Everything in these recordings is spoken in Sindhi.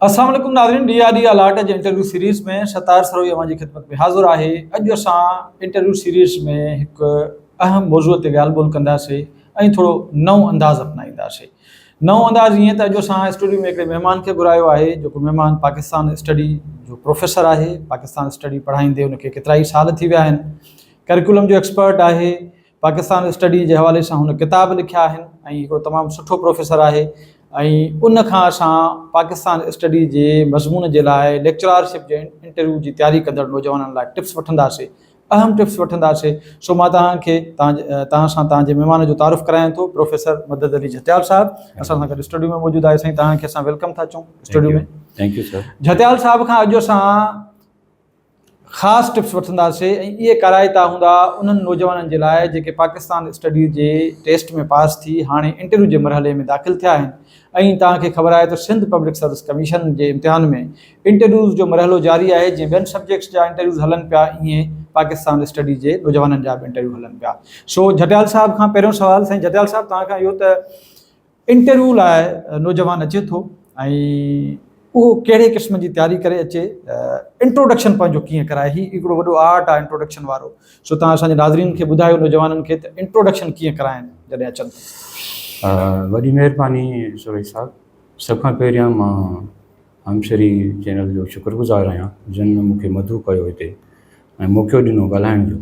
السلام عليڪم ناظرين ڊي آر ڊي الاٽ جي انٽرويو سيريز ۾ ستار سروهي اوهان جي خدمت ۾ حاضر آهي اڄ اسان انٽرويو سيريز ۾ هڪ اهم موضوع تي ڳالهه ٻولهه ڪنداسين ۽ ٿورو نئون انداز اپنائينداسين نئون انداز ائين ته اڄ اسان اسٽوڊيو ۾ هڪڙي مهمان کي گهرايو آهي جيڪو مهمان پاڪستان اسٽڊي جو پروفيسر آهي پاڪستان اسٽڊي پڙهائيندي ان کي ڪيترائي سال ٿي ويا آهن ڪريڪولم جو ايڪسپرٽ آهي پاڪستان اسٽڊيز جي حوالي سان هن ڪتاب لکيا آهن ۽ هڪڙو تمام سٺو پروفيسر آهي ۽ ان کان اسان پاڪستان اسٽڊيز جي مضمون جي لاء ليڪچرارشپ جي انٽرويو جي تياري ڪندڙ نوجوانن لاء ٽپس وٺنداسي اهم ٽپس وٺنداسي سو مان توهان کي توهان سان توهان جي مهمان جو تعارف ڪرايان ٿو پروفيسر مدد علي جهتيال صاحب اسان سان گڏ اسٽوڊيو ۾ موجود آهي سائين توهان کي اسان ويلڪم ٿا چون studio ۾ thank you sir Jhatyal صاحب کان اڄ اسان خاص ٽپس وٺنداسي ۽ اهي ڪارائتا هوندا انهن نوجوانن جي لاء جيڪي پاڪستان اسٽڊيز جي ٽيسٽ ۾ پاس ٿي هاڻي انٽرويو جي مرحلي ۾ داخل ٿيا آهن ۽ توهان کي خبر آهي ته سنڌ پبلڪ سروس ڪميشن جي امتحان ۾ انٽرويوز جو مرحلو جاري آهي جيئن ٻين سبجيڪٽس جا انٽرويوز هلن پيا ايئن پاڪستان اسٽڊيز جي نوجوانن جا به انٽرويو هلن پيا سو جهٽيال صاحب کان پهريون سوال سائين جهٽيال صاحب توهان کان اهو ته انٽرويو لاء نوجوان اچي ٿو ۽ اهو ڪهڙي قسم جي تياري ڪري اچي انٽروڊڪشن پنهنجو ڪيئن ڪرائي هي هڪڙو وڏو آرٽ آهي انٽروڊڪشن وارو سو تهان اسان جي ناظرين کي ٻڌايو نوجوانن کي ته انٽروڊڪشن ڪيئن ڪرائن جڏهن اچن ٿا. وڏي مهرباني سورهي صاحب سڀ کان پهريان مان هم شري چينل جو شڪر گذار آهيان جن مون کي مدعو ڪيو هتي ۽ موقعو ڏنو ڳالهائڻ جو.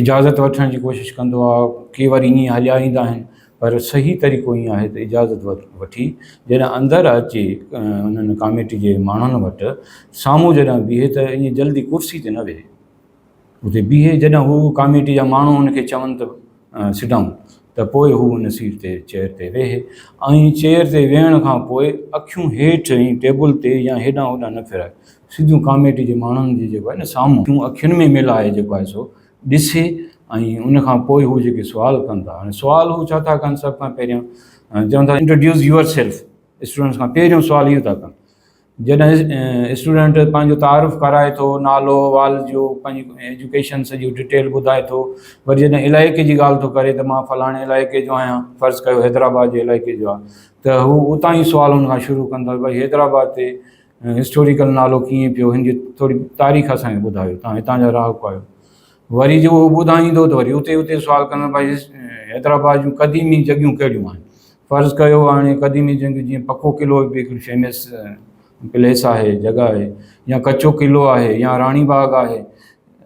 اجازت وٺڻ جي ڪوشش ڪندو آ ڪي وري ائين هليا ايندا آهن پر صحيح طريقو ائين آهي ته اجازت وٺي جڏهن اندر اچي انهن ڪاميٽي جي ماڻهن وٽ سامهون جڏهن بيهي ته ائين جلدي ڪرسي تي نه ويهي اتي بيهي جڏهن هو ڪاميٽي جا ماڻهو ان کي چون ته سٽ ڊائون ته پوء هو ان سيٽ تي چيئر تي ويهي ۽ چيئر تي ويهڻ کان پوء اکيون هيٺ ٽيبل تي يا هيڏانهن هوڏانهن نه ڦيرائي سڌيون ڪاميٽي جي ماڻهن جي جيڪو آهي نه سامهون جون اکين ۾ ميل آهي جيڪو آهي سو ڏسي ۽ ان کان پوء هو جيڪي سوال ڪن ٿا هاڻي سوال هو ڇا ٿا ڪن سڀ کان پهريان چون ٿا انٽروڊيوس يوئر سيلف اسٽوڊنٽس کان پهريون سوال اهو ٿا ڪن جڏهن اسٽوڊنٽ پنهنجو تعارف ڪرائي ٿو نالو وال جو پنهنجي ايجوڪيشن سڄي ڊيٽيل ٻڌائي ٿو وري جڏهن علائقي جي ڳالهه ٿو ڪري ته مان فلاڻي علائقي جو آهيان فرض ڪيو حيدرآباد جي علائقي جو آهي ته هو اتان ئي سوال هن کان شروع ڪن ٿا ڀاء حيدرآباد تي ۽ هسٽوريڪل نالو ڪيئن پيو هن جي ٿوري تاريخ اسان کي ٻڌايو تان هتان جا رهاڪو آهيو وري جو هو ٻڌائيندو ته وري اتي اتي سوال ڪندم بھاء حيدرآباد جون قديمي جڳهيون ڪهڙيون آهن فرض ڪيو هاڻي قديمي جڳهيون جيئن پڪو قلعو به هڪڙي فيمس پليس آهي جڳهه آهي يا ڪچو قلعو آهي يا راڻي باغ آهي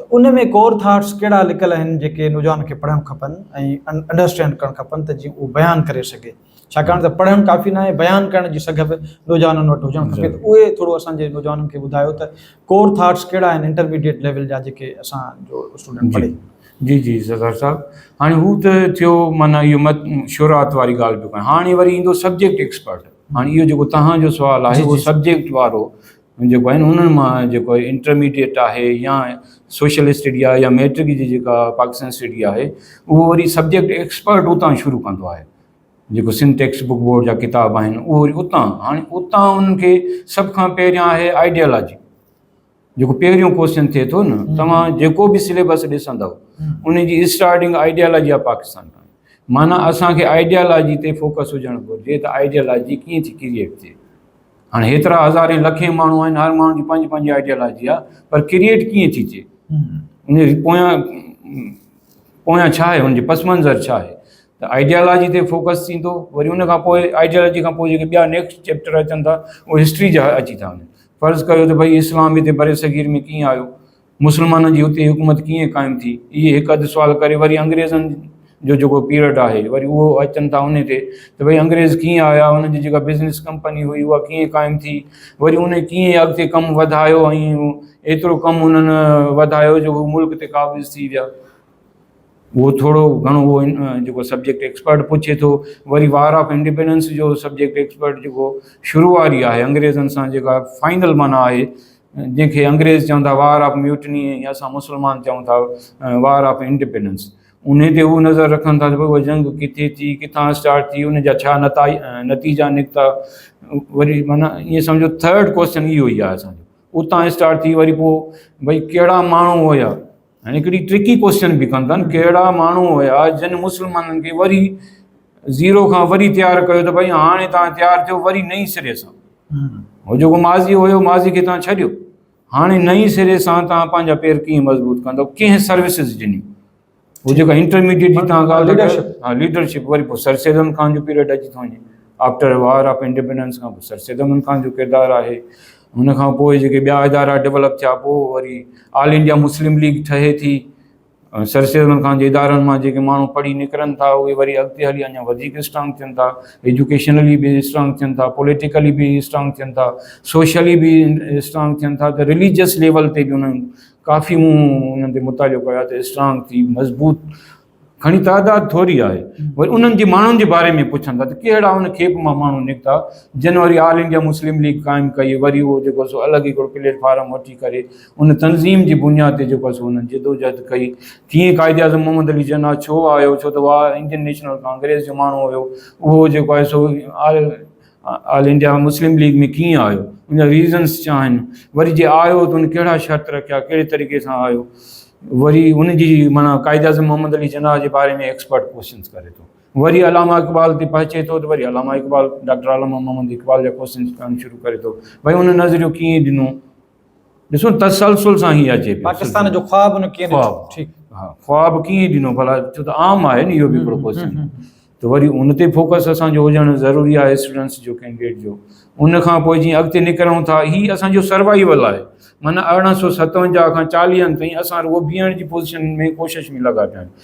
ته ان ۾ ڪور ٿاٽس ڪهڙا لڪل آهن جيڪي نوجوان کي پڙهڻ کپن ۽ انڊرسٽينڊ ڪرڻ کپن ته جيئن اهو بيان ڪري سگهي ڇاڪاڻ ته پڙهڻ ڪافي ناهي بيان ڪرڻ جي سگهه به نوجوانن وٽ هجڻ کپي ته اهي ٿورو اسان جي نوجوانن کي ٻڌايو ته ڪور ٿاٽس ڪهڙا آهن انٽرميڊيٽ ليول جا جيڪي اسان جو اسٽوڊنٽ پڙهي جي جي زردار صاحب هاڻي هو ته ٿيو معنيٰ اهو مت شروعات واري ڳالهه به ڪيا هاڻي وري ايندو سبجيڪٽ ايڪسپرٽ هاڻي اهو جيڪو تهان جو سوال آهي اهو سبجيڪٽ وارو جيڪو آهي انهن مان جيڪو آهي انٽرميڊيٽ آهي يا سوشل اسٽڊي آهي يا ميٽرڪ جي جيڪا پاڪستان اسٽڊي آهي اهو وري سبجيڪٽ ايڪسپرٽ اتان شروع ڪندو آهي جيڪو سنڌ ٽيڪسٽ بڪ بورڊ جا ڪتاب آهن اهو وري اتان هاڻي اتان انهن کي سڀ کان پهريان آهي آئيڊيالاجي جيڪو پهريون ڪوشچن ٿئي ٿو نه توهان جيڪو به سليبس ڏسندو ان جي اسٽارٽنگ آئيڊيالاجي آف پاڪستان کان معنی اسانکي آئيڊيالاجي تي فوڪس هجڻ گهرجي ته آئيڊيالاجي ڪيئن ٿي ڪرييٽ ٿئي هاڻ هيترا هزارين لکين ماڻهو آهن هر ماڻهو جي پنهنجي پنهنجي آئيڊيالاجي آهي پر ڪرييٽ ڪيئن ٿي ٿئي ان جي پويان پويان ڇا آهي ان جي پس منظر ڇا آهي ته آئيڊيالاجي تي فوڪس ٿيندو وري ان کان پوء آئيڊيالاجي کان پوء جيڪي ٻيا نيڪسٽ چيپٽر اچن ٿا اهي هسٽري جا اچي ٿا وڃن فرض ڪيو ته ڀئي اسلام هتي برصغير ۾ ڪيئن آيو مسلمانن جي اتي حڪومت ڪيئن قائم ٿي؟ اهي هڪ اڌ سوال ڪري وري انگريزن جو جيڪو پيرڊ آهي وري اهو اچن ٿا انهي تي ته ڀئي انگريز ڪيئن آيا، انهن جي جيڪا بزنس ڪمپني هئي اها ڪيئن قائم ٿي، وري انهن ڪيئن اڳتي ڪم وڌايو ۽ ايترو ڪم انهن وڌايو جو هو ملڪ تي قابض ٿي ويا. اهو ٿورو گهڻو اهو جيڪو سبجيڪٽ ايڪسپرٽ پڇي ٿو. وري وار آف انڊيپينڊنس جو سبجيڪٽ ايڪسپرٽ جيڪو شروع واري آهي انگريزن سان جيڪا فائنل معنيٰ آهي جنهن کي انگريز چون ٿا وار آف ميوٽني ۽ اسان مسلمان چون ٿا وار آف انڊپينڊنس انهي تي هو نظر رکن ٿا ته ڀئي اها جنگ ڪٿي ٿي ڪٿان اسٽارٽ ٿي ان جا ڇا نتائج نتيجا نڪتا وري معنيٰ ائين سمجهو ٿرڊ ڪوشچن اهو ئي آهي اسان جو اتان اسٽارٽ ٿي وري پوء ڀئي ڪهڙا ماڻهو هيا هن هڪڙي ٽرڪي ڪوئسچن به ڪن ٿن ڪهڙا ماڻهو هيا جن مسلمانن کي وري زيرو کان وري تيار ڪيو ته ڀائي هاڻي تان تيار ٿيو وري نئين سري سان هو جيڪو ماضي هيو ماضي کي تان ڇڏيو هاڻي نئين سري سان تان پنهنجا پير ڪيئن مضبوط ڪندو ڪنهن سروسز ڏنيون هو جيڪا انٽرميڊيٽ جي تان ڳالهه ليڊرشپ ها ليڊرشپ وري پوء سر سيدن خان جو پيريڊ اچي ٿو وڃي آفٽر وار آف انڊيپينڊنس کان پوء سر سيدن خان جو ڪردار آهي ان کان پوء جيڪي ٻيا ادارا ڊولپ ٿيا پوء وري آل انڊيا مسلم ليگ ٺهي ٿي ۽ سر سيد علي خان جي ادارن مان جيڪي ماڻهو پڙهي نڪرن ٿا اهي وري اڳتي هلي اڃا وڌيڪ اسٽرانگ ٿين ٿا ايجوڪيشنلي به اسٽرانگ ٿين ٿا پوليٽيڪلي به اسٽرانگ ٿين ٿا سوشلي به اسٽرانگ ٿين ٿا ته رليجس ليول تي به انهن ڪافي مون انهن تي مطالعو ڪيو آهي ته اسٽرانگ ٿي مضبوط گهڻي تعداد ٿوري آهي. وري انهن جي ماڻهن جي باري ۾ پڇن ٿا ته ڪهڙا ان کيپ مان ماڻهو نڪتا جن وري آل انڊيا مسلم ليگ قائم ڪئي وري اهو جيڪو سو الڳ هڪڙو پليٽ فارم وٺي ڪري ان تنظيم جي بنياد تي جيڪو سو انهن جدوجهد ڪئي ڪيئن قائد اعظم محمد علي جناح ڇو آيو ڇو ته اهو انڊين نيشنل ڪانگريس جو ماڻهو هيو اهو جيڪو آهي سو all all India Muslim League ۾ ڪيئن آيو ان جا ريزنس ڇا آهن وري جي آيو ته ان ڪهڙا شرط رکيا ڪهڙي طريقي سان آيو وري ان جي معنيٰ قائد اعظم محمد علي جناح جي باري ۾ ايڪسپرٽ ڪوشچنس ڪري ٿو وري علامه اقبال تي پهچي ٿو ته وري علامه اقبال ڊاڪٽر علامه محمد اقبال جا ڪوشچنس ڪرڻ شروع ڪري ٿو ڀائی ان نظريو ڪيئن ڏنو ڏسو تسلسل سان هي اچي پاڪستان جو خواب ان کي خواب ٺيڪ ها خواب کي ڏنو بلا جو ته عام آهي نيو بي پروپوزل ته وري ان تي فوڪس اسان جو هجڻ ضروري آهي اسٽوڊنٽس جو ڪينڊيڊيٽ جو ان کان پوء جي اڳتي نڪرون ٿا هي اسان جو سروائيول آهي معنيٰ ارڙهن سو ستونجاهه کان چاليهن تائين اسان رڳو بيهڻ جي پوزيشن ۾ ڪوشش ۾ لڳا پيا آهيون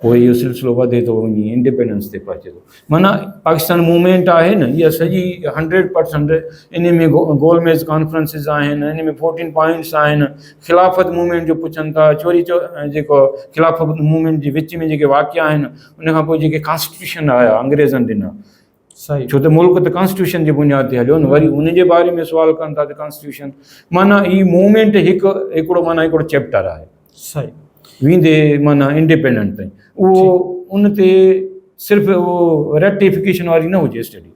پوء اهو سلسلو وڌي ٿو وڃي انڊيپينڊنس تي پهچي ٿو معنيٰ پاڪستان موومينٽ آهي نه اها سڄي هنڊريڊ پرسنٽ ان ۾ گول ميز ڪانفرنسز آهن ان ۾ فورٽين پوائنٽس آهن خلافت موومينٽ جو پڇن ٿا چوري چو جيڪو خلافت موومينٽ جي وچ ۾ جيڪي واقعا آهن ان کان پوء جيڪي ڪانسٽيٽيوشن آيا انگريزن ڏنا ڇو ته ملڪ ته ڪانسٽيٽيوشن جي بنياد تي هليو نه وري ان جي باري ۾ سوال ڪن ٿا ته ڪانسٽيٽيوشن معنيٰ هي موومينٽ هڪ هڪڙو معنيٰ هڪڙو چيپٽر آهي صحيح ويندي معنيٰ انڊيپينڊنٽ تائين اهو ان تي صرف اهو ريڪٽيفڪيشن واري نه هجي اسٽڊي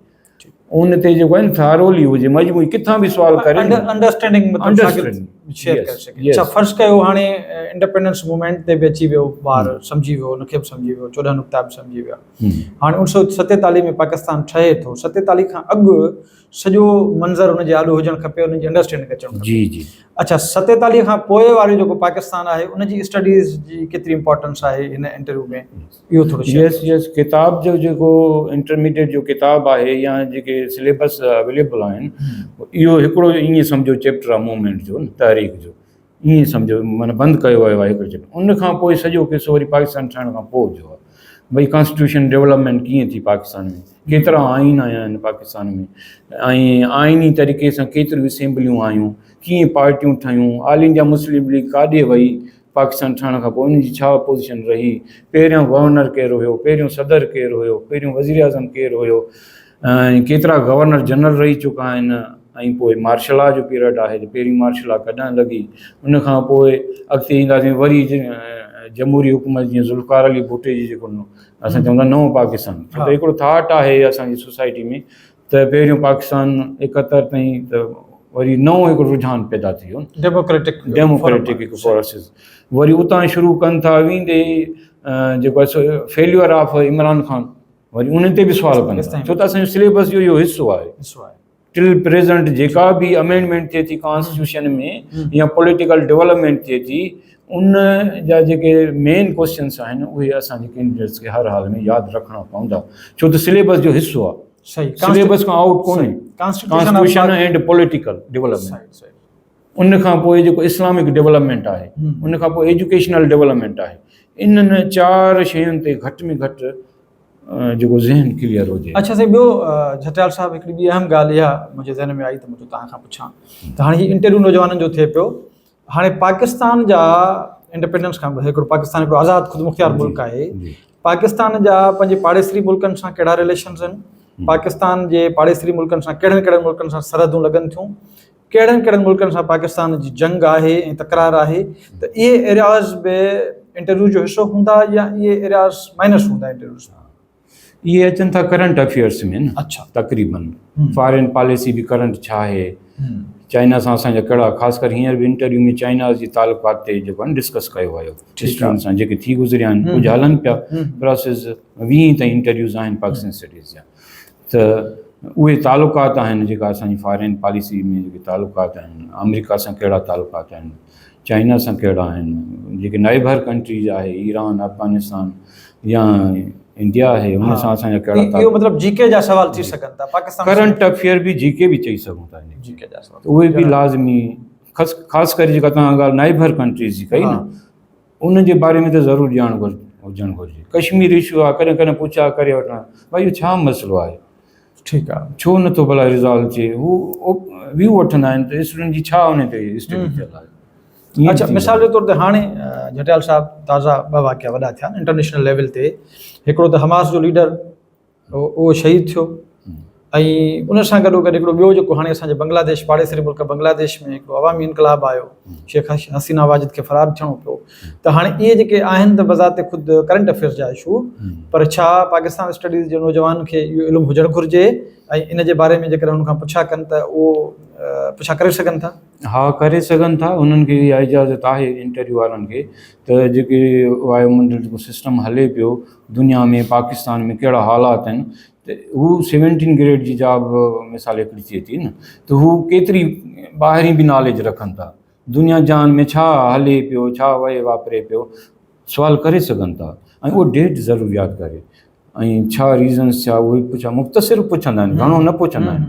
ان تي جيڪو آهي ٿارولي هجي مجموعي کٿان به سوال ڪري انڊرسٽينڊنگ مطلب شيئر ڪري سگهي اچھا فرض ڪيو هاڻي انڊيپينڊنس موومينٽ تي به اچي ويو ٻار سمجهي ويو ان کي به سمجهي ويو چوڏهن نقطا به سمجهي ويا هاڻي اوڻ سؤ ستيتاليهه ۾ پاڪستان ٺهي ٿو، ستيتاليهه کان اڳ سڄو منظر ان جي آڏو هجڻ کپي، ان جي انڊرسٽينڊنگ اچڻ کپي. جي جي. اڇا ستيتاليهه کان پوء وارو جيڪو پاڪستان آهي ان جي اسٽڊيز جي ڪيتري امپارٽنس آهي هن انٽرويو ۾ اهو ٿورو شيئر ڪيو. يس يس ڪتاب جو جيڪو انٽرميڊيٽ جو ڪتاب آهي يا جيڪي سليبس اويليبل آهن اهو هڪڙو ائين سمجهو چيپٽر آهي موومينٽ جو تحريڪ جو ائين سمجهو معنيٰ بند ڪيو ويو آهي ڪجهه ان کان پوء سڄو قصو وري پاڪستان ٺهڻ کان پوء جو آهي ڀئي ڪانسٽيٽيوشن ڊولپمينٽ ڪيئن ٿي پاڪستان ۾ ڪيترا آئين آيا آهن پاڪستان ۾ ۽ آئيني طريقي سان ڪيتريون اسيمبليون آيون ڪيئن پارٽيون ٺهيون آل انڊيا مسلم ليگ ڪاڏي وئي پاڪستان ٺهڻ کان پوء ان جي ڇا پوزيشن رهي پهريان گورنر ڪير هيو پهريون صدر ڪير هيو پهريون وزيراعظم ڪير هيو ۽ ڪيترا گورنر جنرل رهي چڪا آهن ۽ پوء مارشل لا جو پيرڊ آهي ته پهرين مارشل لا ڪڏهن لڳي ان کان پوء اڳتي اينداسين وري جمهوري حڪومت جيئن ذوالفقار علي ڀٽي جي جيڪو اسان چون ٿا نئون پاڪستان ڇو ته هڪڙو ٿاٽ آهي اسان جي سوسائٽي ۾ ته پهريون پاڪستان ايڪهتر تائين ته وري نئون هڪڙو رجحان پيدا ٿي ويو ڊيموڪريٽڪ ڊيموڪريٽڪ هڪ فورسز وري اتان شروع ڪن ٿا ويندي جيڪو فيليور آف عمران خان وري انهن تي به سوال ڪن ٿا ڇو ته اسان جو سليبس جو اهو حصو آهي حصو آهي ٽل پريزنٽ جيڪا به امينڊمينٽ ٿئي ٿي ڪانسٽيٽيوشن ۾ يا پوليٽيڪل ڊيولپمينٽ ٿئي ٿي ان جا جيڪي مين ڪوشچنس آهن اهي اسان جي ڪينڊيڊيٽس کي هر حال ۾ ياد رکڻا پوندا ڇو ته سليبس جو حصو آهي صحيح سليبس کان آؤٽ ڪونهي ڪانسٽيٽيوشن ڪانسٽيٽيوشن ۽ پوليٽيڪل ڊيولپمينٽ ان کان پوء جيڪو اسلامڪ ڊولپمينٽ آهي، ان کان پوء ايجوڪيشنل ڊولپمينٽ آهي. انهن چار شين تي گهٽ ۾ گهٽ جيڪو ذهن ڪليئر هجي. اڇا سائين ٻيو جهٽيال صاحب هڪڙي ٻي اهم ڳالهه اها منهنجي ذهن ۾ آئي ته مون چيو توهان کان پڇان ته هاڻي هي انٽرويو نوجوانن جو ٿئي پيو هاڻي پاڪستان جا انڊپينڊنس کان پوء هڪڙو پاڪستان هڪڙو آزاد خودمختيار ملڪ آهي پاڪستان جا پنهنجي پاڙيسري ملڪن سان ڪهڙا رليشنز آهن پاڪستان جي پاڙيسري ملڪن سان ڪهڙن ڪهڙن ملڪن سان سرحدون لڳن ٿيون ڪهڙن ڪهڙن ملڪن سان پاڪستان جي جنگ آهي ۽ تڪرار آهي ته اهي ايرياز به انٽرويو جو حصو هوندا يا اهي ايرياز مائنس هوندا انٽرويو سان؟ اهي اچن ٿا ڪرنٽ افيئرس ۾ نه اڇا تقريبن فارين پاليسي به ڪرنٽ ڇا آهي چائنا سان اسان جا ڪهڙا خاص ڪر هينئر به انٽرويو ۾ چائنا جي تعلقات تي جيڪو آهن ڊسڪس ڪيو ويو اسٽوڊنٽ سان جيڪي ٿي گذريا آهن ڪجهه هلن پيا پروسيس ويهين تائين انٽرويوز آهن پاڪستان اسٽڊيز جا ته اهي تعلقات آهن جيڪا اسان جي فارين پاليسي ۾ جيڪي تعلقات آهن آمريڪا سان ڪهڙا تعلقات آهن چائنا سان ڪهڙا آهن جيڪي نائبر ڪنٽريز آهي ايران افغانستان يا انڊيا آهي ان سان اسان جا ڪهڙا تعلقات مطلب جي ڪي جا سوال ٿي سگهن ٿا پاڪستان ڪرنٽ افيئر به جي ڪي به چئي سگهون ٿا جي ڪي جا سوال اهي به لازمي خاص ڪري جيڪا تنهن ڳالهه نائبر ڪنٽريز جي ڪئي نه انهن جي باري ۾ ته ضرور ڄاڻ هجڻ گهرجي. ڪشمير اشو آ ڪڏهن ڪڏهن پڇا ڪري وٺان ڀائي اهو ڇا مسئلو آهي. ٺيڪ آ ڇو نٿو ڀلا ريزالو ٿئي هو ويو وٺندا آهن ته اسٽوڊنٽ جي ڇا انهي تي اسٽيڊي ٿيل آهي. اڇا مثال جي طور تي هاڻي جهٽيال صاحب تازا ٻه واقعا وڏا ٿيا انٽرنيشنل ليول تي هڪڙو ته حماس جو ليڊر اهو شهيد ٿيو ۽ ان سان گڏوگڏ هڪڙو ٻيو جيڪو هاڻي اسان جي بنگلاديش پاڙيسري ملڪ بنگلاديش ۾ هڪڙو عوامي انقلاب آيو شيخ حسينه واجد کي فرار ٿيڻو پيو ته هاڻي اهي جيڪي آهن ته بذات خود ڪرنٽ افيئرز جا اشو پر ڇا پاڪستان اسٽڊيز جي نوجوان کي اهو علم هجڻ گهرجي ۽ ان جي باري ۾ جيڪڏهن ان کان پڇا ڪن ته اهو پڇا ڪري سگهن ٿا؟ ها ڪري سگهن ٿا انهن کي اها اجازت آهي انٽرويو وارن کي ته جيڪي وايو منڊل جيڪو سسٽم هلي پيو دنيا ۾ پاڪستان ۾ ڪهڙا حالات آهن ته هو سيونٽين گريڊ جي جاب مثال هڪڙي ٿئي ٿي نه ته هو ڪيتري ٻاهرين به ناليج رکن ٿا دنيا جهان ۾ ڇا هلي پيو ڇا وهي واپري پيو سوال ڪري سگهن ٿا ۽ اهو ڊيٽ ضرور ياد ڪري ۽ ڇا ريزنس ڇا اهي پڇا مختصر پڇندا آهن گهڻو نه پڇندا آهن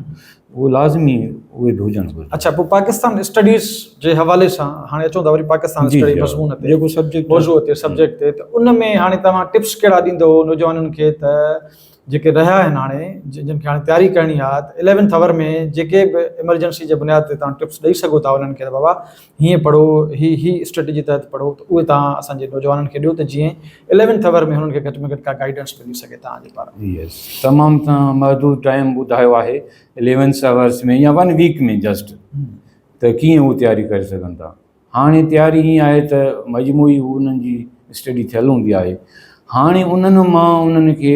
اهو لازمي اهي به هجڻ گهرجن. اڇا پوء پاڪستان اسٽڊيز جي حوالي سان هاڻي اچون ٿا وري پاڪستان اسٽڊي مضمون تي جيڪو سبجيڪٽ موضوع تي سبجيڪٽ تي ته ان ۾ هاڻي توهان ٽپس ڪهڙا ڏيندو نوجوانن کي ته جيڪي رهيا آهن هاڻي جن کي هاڻي تياري ڪرڻي آهي ته اليونٿ آور ۾ جيڪي به ايمرجنسي جي بنياد تي توهان ٽپس ڏئي سگهو ٿا انهن کي ته بابا هيئن پڙهو، هي هي اسٽريٽجي تحت پڙهو ته اهي توهان اسان جي نوجوانن کي ڏيو ته جيئن اليونٿ آور ۾ هنن کي گهٽ ۾ گهٽ ڪا گائيڊنس ملي سگهي توهان جي پاران. يس تمام توهان محدود ٽائيم ٻڌايو آهي اليونٿ آورس ۾ يا ون ويڪ ۾ جسٽ ته ڪيئن هو تياري ڪري سگهن ٿا هاڻي تياري هيئن آهي ته مجموعي هو انهن جي اسٽڊي ٿيل هوندي آهي هاڻي انهن مان انهن کي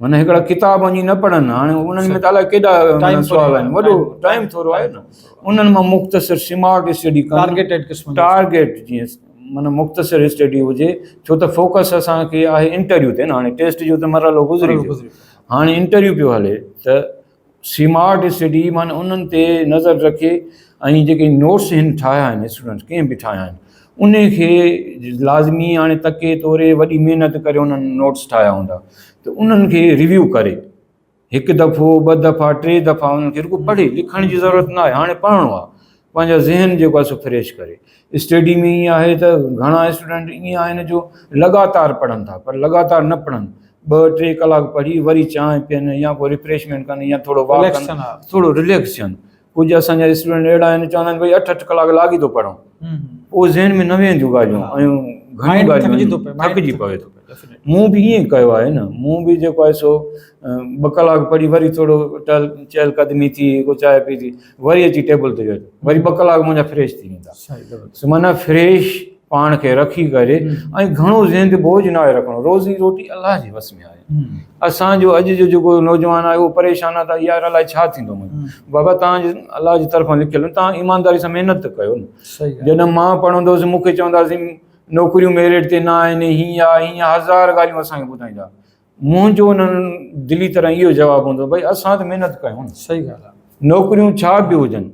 من هڪڙا ڪتاب وڃي نه پڙهن هاڻي انهن ۾ ته الاء ڪيڏا سوال آهن وڏو ٽائيم ٿورو آهي نه انهن مان مختصر سمارٽ اسٽڊي ڪن ٽارگيٽيڊ قسم ٽارگيٽ جيئن من مختصر اسٽڊي هجي ڇو ته فوڪس اسان کي آهي انٽرويو تي نه هاڻي ٽيسٽ جو ته مرحلو گذري ويو هاڻي انٽرويو پيو هلي ته سمارٽ اسٽڊي معني انهن تي نظر رکي ۽ جيڪي نوٽس هن ٺاهيا آهن اسٽوڊنٽس ڪنهن به ٺاهيا آهن ان کي لازمي هاڻي تڪي توري وڏي محنت ڪري انهن نوٽس ٺاهيا هوندا ته انهن کي ريويو ڪري هڪ دفعو ٻه دفعا ٽي دفعا انهن کي رڳو پڙهي لکڻ جي ضرورت نه آهي هاڻي پڙهڻو آهي پنهنجو ذهن جيڪو آهي سو فريش ڪري اسٽيڊي ۾ ائين آهي ته گهڻا اسٽوڊنٽ ائين آهن جو لڳاتار پڙهن ٿا پر لڳاتار نه پڙهن ٻه ٽي ڪلاڪ پڙهي وري چانهه پين يا کو ريفريشمينٽ ڪن يا ٿورو واڪ ڪن ٿورو رليڪس ٿين ڪجهه اسانجا اسٽوڊنٽ اهڙا آهن چوندا آهن بھي اٺ اٺ ڪلاڪ لاڳي ٿو پڙهون پوء ذهن ۾ نه ويهنديون ڳالهيون ۽ گهڻيون ڳالهيون ٿڪجي پوي ٿو مون به ائين ڪيو آهي نه مون به جيڪو آهي سو ٻه ڪلاڪ پڙهي وري ٿورو ٽهل چهل قدمي ٿي ڪو چانهه پيتي وري اچي ٽيبل تي ويهجو وري ٻه ڪلاڪ منهنجا فريش ٿي ويندا معنيٰ فريش پاڻ کي رکي ڪري ۽ گهڻو ذهن تي بوجھ نه آهي رکڻو روزي روٽي الله جي وس ۾ آهي اسانجو اڄ جو جيڪو نوجوان آهي اهو پريشان آهي ته يار الائي ڇا ٿيندو بابا تان جي الله جي طرفان لکيل آهن تان ايمانداري سان محنت ته ڪيو نه جڏهن مان پڙهندو هوس مونکي چوندا هوسين نوڪريون ميرٽ تي نه آهن هين آهي هين آهي هزار ڳالهيون اسانکي ٻڌائيندا منهنجو انهن دلي طرح اهو جواب هوندو ڀئي اسان ته محنت ڪيون نه. صحيح ڳالهه آهي. نوڪريون ڇا به هجن.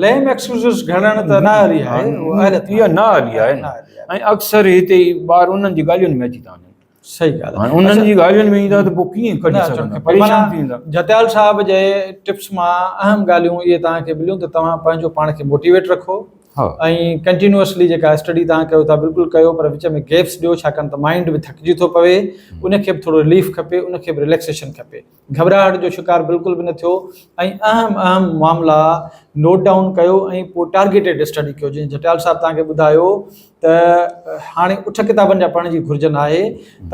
ليم ايڪسڪيوزز گهڙڻ ته نه اهلي آهي. اها نه اهلي آهي نه. ۽ اڪثر هتي ٻار انهن جي ڳالهين ۾ اچي ٿا وڃن. صحيح ڳالهه آهي. هاڻي انهن جي ڳالهين ۾ ايندا ته پوء ڪيئن ڪڍي سگهندا. پريشان ٿي ويندا. جتيال صاحب جي ٽپس مان اهم ڳالهيون اهي توهان کي مليون ته توهان پنهنجو پاڻ کي موٽيويٽ رکو. ها ۽ ڪنٽينوئسلي جيڪا اسٽڊي توهان ڪيو ٿا بلڪل ڪيو پر وچ ۾ گيپس ڏيو ڇاڪاڻ ته مائنڊ به ٿڪجي ٿو پوي ان کي به ٿورو رليف کپي ان کي به رليڪسيشن کپي گهٻراهٽ جو شڪار بلڪل به نه ٿيو ۽ اهم اهم معاملا نوٽ ڊائون ڪيو ۽ پوء ٽارگيٽيڊ اسٽڊي ڪيو جيئن جٽيال صاحب توهان کي ٻڌايو ته هاڻي اٺ ڪتابن جا پڙهڻ جي گهرجن آهي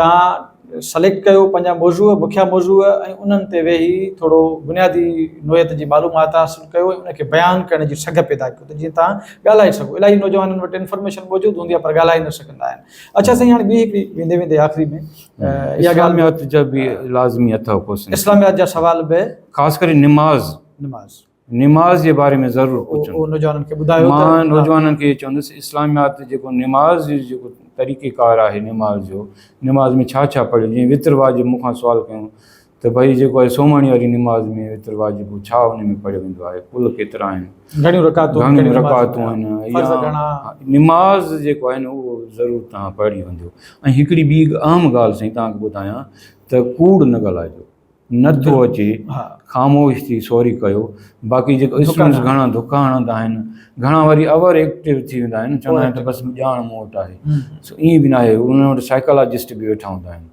توهان سليڪٽ ڪيو پنهنجا موضوع مکيه موضوع ۽ انهن تي ويهي ٿورو بنيادي نوعيت جي معلومات حاصل ڪيو ۽ ان کي بيان ڪرڻ جي سگهه پيدا ڪيو ته جيئن تهان ڳالهائي سگهو الاهي نوجوانن وٽ انفارميشن موجود هوندي آهي پر ڳالهائي نه سگهندا آهن اڇا سائين هاڻي ٻي هڪڙي ويندي ويندي آخري ۾ اها ڳالهه اسلاميات جا به لازمي اٿو ڪو سائين اسلاميات جا سوال به خاص ڪري نماز نماز نماز جي باري ۾ ضرور پڇن. هو نوجوانن کي ٻڌايو ته. مان نوجوانن کي چوندس اسلاميات جيڪو نماز جي جيڪو طريقي ڪار آهي نماز جو نماز ۾ ڇا ڇا پڙهيو جيئن وتر واجب مون کان سوال ڪيون ته ڀئي جيڪو آهي سومهڻي واري نماز ۾ وتر واجب ڇا ان ۾ پڙهيو ويندو آهي ڪل ڪيترا آهن گهڻيون رڪعتون آهن گهڻيون رڪعتون آهن فرض گهڻا نماز جيڪو آهي نه اهو ضرور تان پڙهي ويندو ۽ هڪڙي ٻي اهم ڳالهه سائين تان ٻڌايان ته ڪوڙ نه ڳالهائجو نه ٿو اچي خاموش ٿي سوري ڪيو باقي جيڪو اسٽوڊنٽس گهڻا دڪا هڻندا آهن گهڻا وري اوور ايڪٽو ٿي ويندا آهن چوندا آهن ته بس ڄاڻ مون وٽ آهي سو ائين به ناهي انهن وٽ سائيڪالاجسٽ به ويٺا هوندا آهن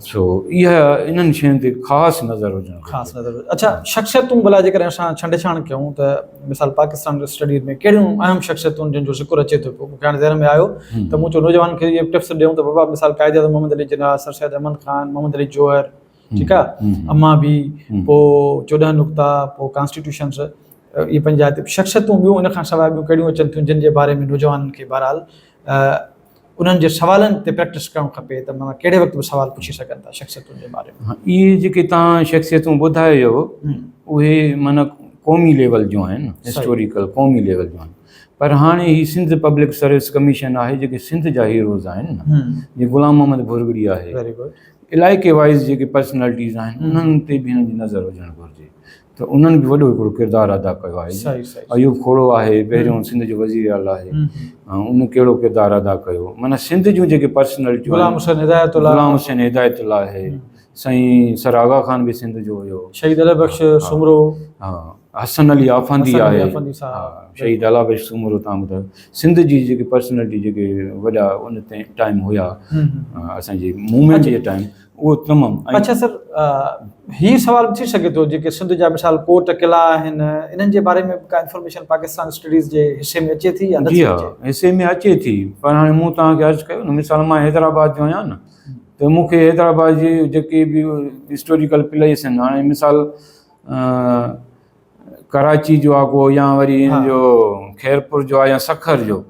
سو اها انهن شين تي خاص نظر هجڻ خاص نظر اچھا شخصيتون بلا جيڪر اسان ڇنڊ ڇاڻ ڪيون ته مثال پاڪستان جو اسٽڊي ۾ ڪهڙيون اهم شخصيتون جن جو ذڪر اچي ٿو پيو مونکي هاڻي ذهن ۾ آيو ته مون چيو نوجوان کي ٽپس ڏيون ته بابا مثال قائد اعظم محمد علي جناح سر سيد احمد خان محمد علي جوهر ٺيڪ آ امان بي پو چوڏهن نقطا پو ڪانسٽيٽيوشنس اهي پنهنجا شخصيتون ٻيون ان کان سواء ٻيون ڪهڙيون اچن ٿيون جن جي باري ۾ نوجوانن کي بهرحال انهن جي سوالن تي پريڪٽس ڪرڻ کپي ته مانا ڪهڙي وقت به سوال پڇي سگهن ٿا شخصيتن جي باري ۾ اهي جيڪي تان شخصيتون ٻڌايو اهي مانا قومي ليول جون آهن هسٽوريڪل قومي ليول جون آهن پر هاڻي هي سنڌ پبلڪ سروس ڪميشن آهي جيڪي سنڌ جا هيروز آهن جي غلام محمد ڀورڳڙي آهي علائقي وائيز جيڪي پرسنالٽيز آهن انهن تي به هن جي نظر هجڻ گهرجي ته انهن به وڏو هڪڙو ڪردار ادا ڪيو آهي صحيح صحيح ايوب کوڙو آهي پهريون سنڌ جو وزير اعلٰي آهي ان ڪهڙو ڪردار ادا ڪيو معنيٰ سنڌ جون جيڪي پرسنالٽيون غلام حسين هدايت الله غلام حسين هدايت الله آهي سائين سر آغا خان به سنڌ جو هيو شهيد علي بخش سومرو ها حسن علي آفندي آهي شهيد الا بخش سومرو تان ٻڌايو سنڌ جي جيڪي پرسنالٽي جيڪي وڏا ان ٽائيم هيا اسانجي موومينٽ جي ٽائيم اهو تمام اچھا سر هي سوال ٿي سگهي ٿو جيڪي سنڌ جا مثال ڪوٽ قلعا آهن انهن جي باري ۾ ڪا انفارميشن پاڪستان اسٽڊيز جي حصي ۾ اچي ٿي يا نه جي حصي ۾ اچي ٿي پر هاڻي مون توهان کي عرض ڪيو نه مثال مان حيدرآباد جو آهيان نه ته مونکي حيدرآباد جي جيڪي به هسٽوريڪل پليس آهن هاڻي مثال ڪراچي جو آھي ڪو يا وري ان جو خيرپور جو آھي يا سکر جو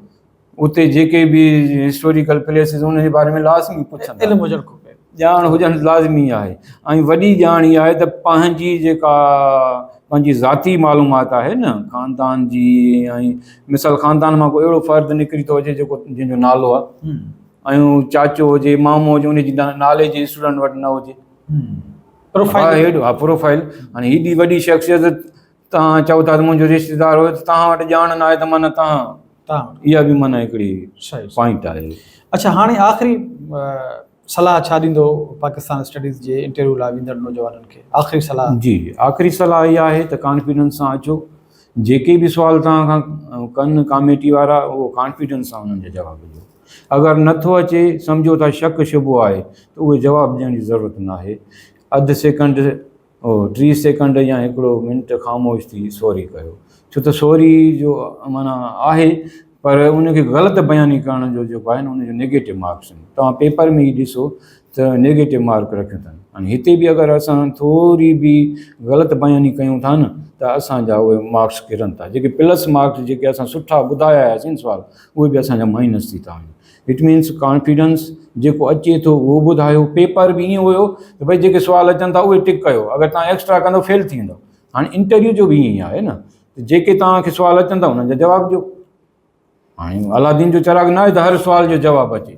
اتي جيڪي به ھسٽوريڪل پليسز ان جي باري ۾ لازمي پڇن علم ھجڻ کپي ڄاڻ ھجڻ لازمي آھي ۽ وڏي ڄاڻ اھا آھي ته پنھنجي جيڪا پنھنجي ذاتي معلومات آھي نه خاندان جي ۽ مثال خاندان مان ڪو اھڙو فرد نڪري ٿو اچي جيڪو جنھن جو نالو آھي ۽ چاچو ھجي مامو ھجي ان جي نالي جي اسٽوڊنٽ وٽ نه ھجي پروفائيل ها پروفائيل هاڻي هيڏي وڏي شخصيت تان چئو ٿا ته منهنجو رشتيدار هو تان وٽ ڄاڻ نه آهي ته معنيٰ تان تان اها به معنيٰ هڪڙي پوائنٽ آهي اچھا هاڻي آخري صلاح ڇا ڏيندو پاڪستان اسٽڊيز جي انٽرويو لاء ويندڙ نوجوانن کي آخري صلاح جي آخري صلاح اها آهي ته ڪانفيڊنس سان اچو جيڪي به سوال تان کان ڪن ڪاميٽي وارا اهو ڪانفيڊنس سان انهن جا جواب ڏيو اگر نه ٿو اچي، سمجهو ٿا شڪ شبهو آهي ته اهي جواب ڏيڻ جي ضرورت ناهي. اڌ سيڪنڊ، ٽيهه سيڪنڊ يا هڪڙو منٽ خاموش ٿي سوري ڪيو. ڇو ته سوري جو معنيٰ آهي پر ان کي غلط بياني ڪرڻ جو جيڪو آهي نه ان جو نيگيٽو مارڪس آهن. توهان پيپر ۾ ئي ڏسو ته نيگيٽو مارڪ رکيو اٿن. هاڻي هتي به اگر اسان ٿوري به غلط بياني ڪيون ٿا نه ته اسان جا اهي مارڪس ڪرن ٿا. جيڪي پلس مارڪس جيڪي اسان سٺا ٻڌايا آهياسين سوال. اهي به اسان جا مائنس ٿي ٿا وڃن اٽ مينس ڪانفيڊنس جيڪو اچي ٿو اهو ٻڌايو پيپر به ائين هيو ته بھي جيڪي سوال اچن ٿا اهي ٽڪ ڪيو اگر تان ايڪسٽرا ڪندو فيل ٿي ويندو هاڻي انٽرويو جو به ائين ئي آهي نه جيڪي تان کي سوال اچن ٿا انهن جا جواب ڏيو هاڻي علادين جو چراغ نه آهي ته هر سوال جو جواب اچي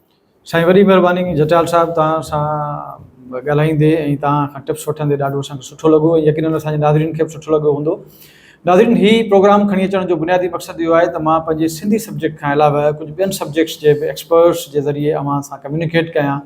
سائين وڏي مھرباني جٽيال صاحب توھان سان ڳالھائيندي ۽ توھان کان ٽپس وٺندي ڏاڍو اسان کي سٺو لڳو ۽ يقينن اسان جي ناظرين کي به سٺو لڳو ھوندو ناظرين ھي پروگرام کڻي اچڻ جو بنيادي مقصد اھو آھي ته مان پنھنجي سنڌي سبجيڪٽ کان علاوه ڪجھ ٻين سبجيڪٽس جي به ايڪسپرٽس جي ذريعي اوھان سان ڪميونيڪيٽ ڪيان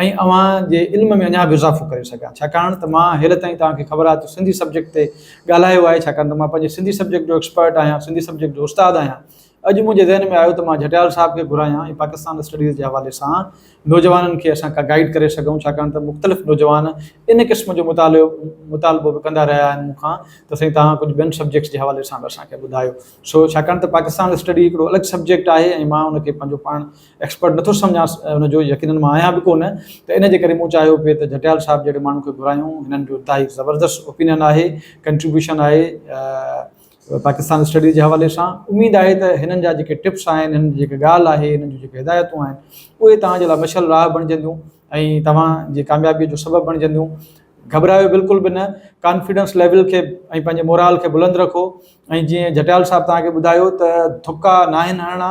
۽ اوھان جي علم ۾ اڃا به اضافو ڪري سگھان ڇاڪاڻ ته مان ھيل تائين توھان کي خبر آھي ته سنڌي سبجيڪٽ تي ڳالھايو آھي ڇاڪاڻ ته مان پنھنجي سنڌي سبجيڪٽ جو ايڪسپرٽ آھيان سنڌي سبجيڪٽ جو استاد آھيان اڄ منهنجي ذهن ۾ آيو ته مان جهٽيال صاحب کي گهرايان ۽ پاڪستان اسٽڊيز جي حوالي سان نوجوانن کي اسان ڪا گائيڊ ڪري سگهون ڇاڪاڻ ته مختلف نوجوان ان قسم جو مطالعو مطالبو به ڪندا رهيا آهن مون کان ته سائين توهان ڪجهه ٻين سبجيڪٽس جي حوالي سان به اسان کي ٻڌايو سو ڇاڪاڻ ته پاڪستان اسٽڊي هڪڙو الڳ سبجيڪٽ آهي ۽ مان ان کي پنهنجو پاڻ ايڪسپرٽ نٿو سمجهان ان جو يقينن مان آهيان به ڪونه ته ان جي ڪري مون چاهيو پئي ته جهٽيال صاحب جهڙي ماڻهو کي گهرايون هنن جو انتهائي زبردست اوپينين آهي ڪنٽريبيوشن آهي پاڪستان اسٽڊيز جي حوالي سان اميد آهي ته هنن جا جيڪي ٽپس آهن هنن جي جيڪي ڳالهه آهي هنن جون جيڪي هدايتون آهن اهي توهان جي لاء مشعل راهه بڻجنديون ۽ توهان جي ڪاميابي جو سبب بڻجنديون گهٻرايو بلڪل به نه ڪانفيڊنس ليول کي ۽ پنهنجي مورال کي بلند رکو ۽ جيئن جٽيال صاحب توهان کي ٻڌايو ته ٿڪا ناهن هڻڻا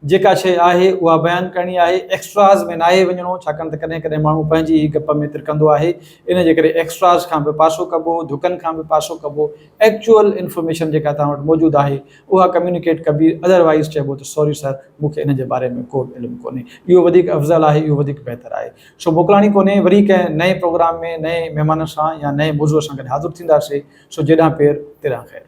جيڪا شيء آهي اها بيان ڪرڻي آهي، ايڪسٽراز ۾ ناهي وڃڻو، ڇاڪاڻ ته ڪڏهن ڪڏهن ماڻهو پنهنجي ئي گپ ۾ ترڪندو آهي، ان جي ڪري ايڪسٽراز کان به پاسو ڪبو، ڌڪن کان به پاسو ڪبو، ايڪچوئل انفارميشن جيڪا توهان وٽ موجود آهي اها ڪميونيڪيٽ ڪبي، اڌر وائيز چئبو ته سوري سر مون کي ان جي باري ۾ ڪو به علم ڪونهي، اهو وڌيڪ افضل آهي، اهو وڌيڪ بهتر آهي. سو موڪلاڻي ڪونهي، وري ڪنهن نئين پروگرام ۾ نئين مهمان سان يا نئين موضوع سان گڏ حاضر ٿينداسين، سو جيڏانهن پير تيڏانهن خير.